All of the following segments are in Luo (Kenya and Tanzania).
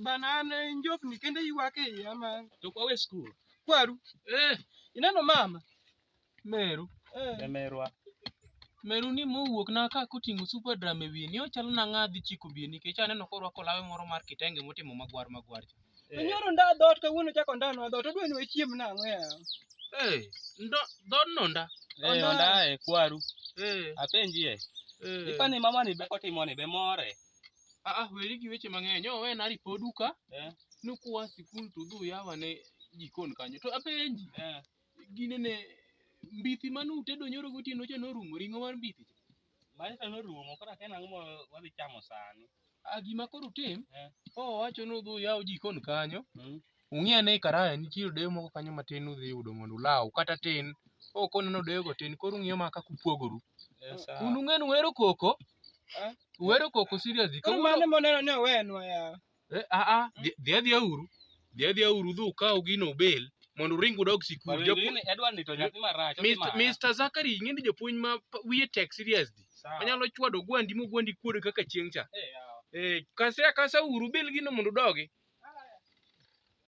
Banana njofni kende iwake iya ma. To kwa we school. Kwaru. Eh. Ineno mama. Meru. Eh. Merwa. Meru ni mowuok na ka koting'o super drum e wiye ni ochalo na ng'adhi chiko biye nikech aneno korwako lawe moro mar kitenge motimo magwar magwar. Cha. To nyoro nda dhoot kawuono chako ndanwa dhoot odwa ni wachiem nang'o yawa. Eh, ndo dhod nonda. Eh, onda e kwaru. Eh, Apenjie. eh. Ipani mama ni be kotimo ni be more. Ah, ah, weri gi weche mang'eny. Yo, we na ripo duka. Eh. Nukuwa sikul to dhu yawa ne jikon kanyo. To apenji, Eh. gine ne mbithi mane utedo nyoro gotieno cha norumo ring'o mar mbithi. Maisha norumo koro akia nang'o ma wadhi chamo sani. Ah, gima koro utim Eh. owacho ni udhi uyaw jikon kanyo Mm. ung'e ane karaya nitie odeyo moko kanyo matin udhi yudo mondo ulaw kata tin ok oneno odeyogo tin koro ung'iyo ma kaka upogoru Eh, sawa. un ung'e ni uhero koko Eh. uhero koko seriously Koro kawuono mane moneno ni owenwa ya. Eh, ah, ah, dhi- dhi adhiya uru dhi adhiya uru udhi ukaw gino obel mondo uring udog sikul Bado Japu- ingine Edward ni to nyathi marach. Mr. okimara. Mr. Zakari ing'e ni jopuonj ma pa- wiye tek seriously Sawa. onyalo chwado gwandi mogwandi kuode kaka chieng' cha Eh, yawa. eh, kase akasa uru bil gino mondo udogi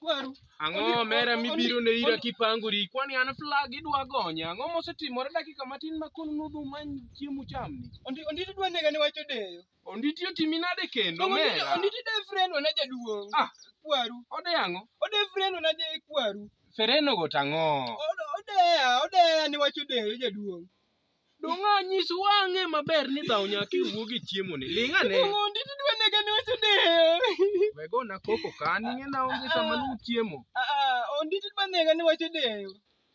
kwaru. Ang'o Oni- omera oni- mibiro ne ira oni- kipangori? Kwani an flag idwa gonya? Ang'o mosetimore dakika matin ma koro nudhu many chiemo chamni? Ondi ondi dwa nega ni wacho deyo. Onditi otimi nade kendo Ondi mera? ondi de friend wana jaduong. Ah. Kwaru. Ode ang'o? Ode friend wana de kwaru. Fereno go tang'o. Ode odeya odeya ni wacho deyo jaduong. Donga nyis wang'e maber ni dhaw nyaka iwuo gi chiemo ni. Ling ane. Ng'ondi to dwa nega ne wacho ne. Wego na koko ka ninge na onge sama lu chiemo. Ah, ondi to dwa nega ne wacho ne.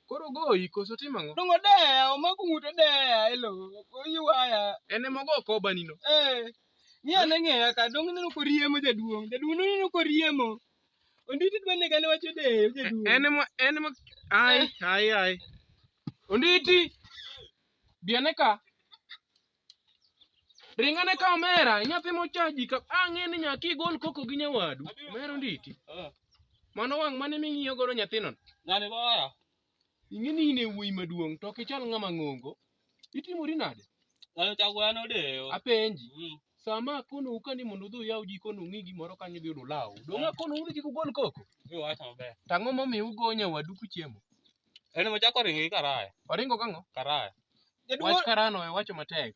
Koro goyi koso timo ang'o? Dongo deya, omako ng'ute deya, elo, oywaya. En ema ogo koba nino. Eh. Ng'iya ne ng'eya ka, dongo ineno koriemo jaduong'. Jaduong' ineno koriemo. Onditi dwa nega ne wacho deyo jaduong'. En ema en ema ai ai ai. Onditi. Biane ka. Ringa ne ka omera, nyathi mochaji ka ang'e ni nyaki igol koko gi nyawadu. Omera onditi. Mano wang' mane ming'iyo godo nyathino. Ng'ani goya. Ing'e ni in e wuoyi maduong' to ok ichal ng'ama ng'ongo. Itimori nade? Dhano chako dhano deyo. Apenji. Mm. Sama akonou ka ni mondo udhi uyaw jikon ung'i gimoro kanyo idhi yudo ulaw. Donge akonou ni kik ugol koko? Iwacho maber. To ang'o momiyo ugo nyawadu kuchiemo? En ema chako ringo gi karaya. Oringo kang'o? Karaya. Wach karano e wacho matek.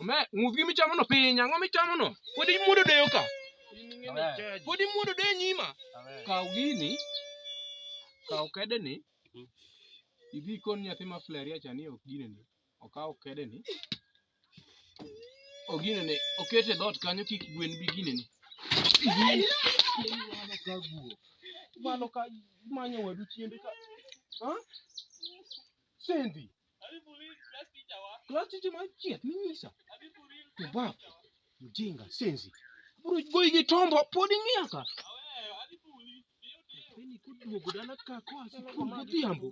Ome, ng'udh gima ichamono piny, ang'o michamono? Pod imuodo deyo ka. Pod imuodo deyo nyima. Kaw gini, kaw kedeni, idhi ikon nyathi ma fleria cha ni ok ginene. Okaw kedeni, oginene, okete dhoot kanyo kik gwen bi ginene. Mano ka manyo wadu chiende ka. Ha? Sendi. Class teacher ma chieth minyisa. Tubab. Mjinga, senzi. Bro goyi gi tombo pod ing'iya ka. Nyathini koduogo dala ka koa sikul godhiambo.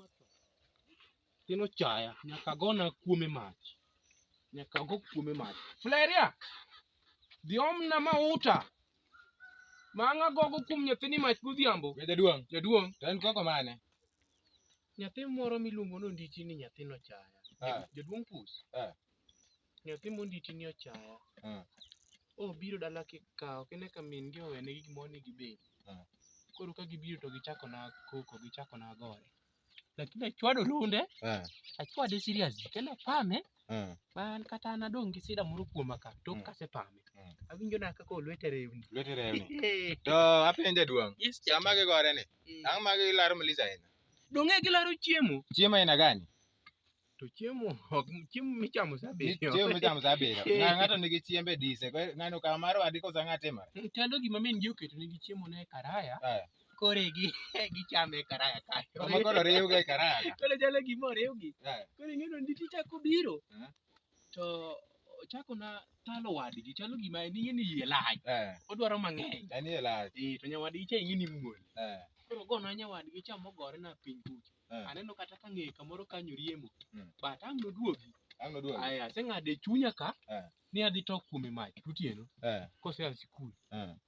Nyathino chaya, nyaka gona kuome mach. Nyaka go kuome mach. Fleria! Dhi omna mauta. Mang'a gogo kuom nyathini mach godhiambo. Jaduong', Jaduong', to en koko mane? Nyathi moro miluongo ni Onditi ni nyathi nochaya. Eh. Jaduong' Pus. Eh. Nyathi monditi ni ochaya. Eh. Obiro dala kikawo kine ka min gi owene gi gimoro ni gibed. Eh. Koro ka gibiro to gichako na koko, gichako na gore. Lakini achwado lunde, Eh. achwade serious. Kendo apame, Mm. ma an kata an adong' gi sida moro kuoma ka tok Mm. kasepame Mm. awinjo na kaka olwete rewni Lwete rewni. Eh, To apenje duong'. yes, cha. Sama gigore ni, Mm. ang' ma gilaro Melissa ahinya. Donge gilaro chiemo Chiemo aina gani? to chiemo ok chiemo michamo saa abiriyo Chiemo michamo saa abiriyo. Eh. Ng'a- Ng'ato nigi chiembe dise. Kwa- Ng'ano kama mar wadi kosa ng'a timore. tendo gima min ji oketo negi chiemo ne karaya Aya. kore gi gichame e karaya kae. Kama koro riwga e karaya ka. Koro chalo gima oriwgi. Eh. Koro ing'e ni nditi chako biro. Eh. To ochako na talo wadgi chalo gima en ing'e ni yie lach. Eh. Odwaro mang'eny. En yie lach. Eh to nyawadgi cha ing'e ni muol. Eh. Koro gona nyawadgi cha mogore na piny kucha. Eh. Aneno kata ka ng'eye kamoro kanyo riemo. Mm. But ang' noduogi. Ang' noduogi. Aya aseng'ado e chunya ka. Eh. Ni adhi tok kuome mach gotieno. Eh. Kose a sikul. Eh.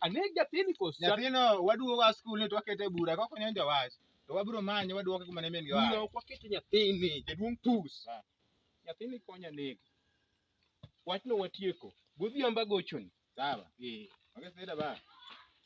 Aneg nyathini kos. Nyathino waduogo a skul ni to wakete e bura kok onyo jowach. To wabiro manye waduoke kuma ne min gi Bura oa. ok waketo nyathini jaduong' pus. Ah. Nyathini konya neg. Wachno watieko. Godhiambo agochoni. Sawa. Eh. Onge sida ba.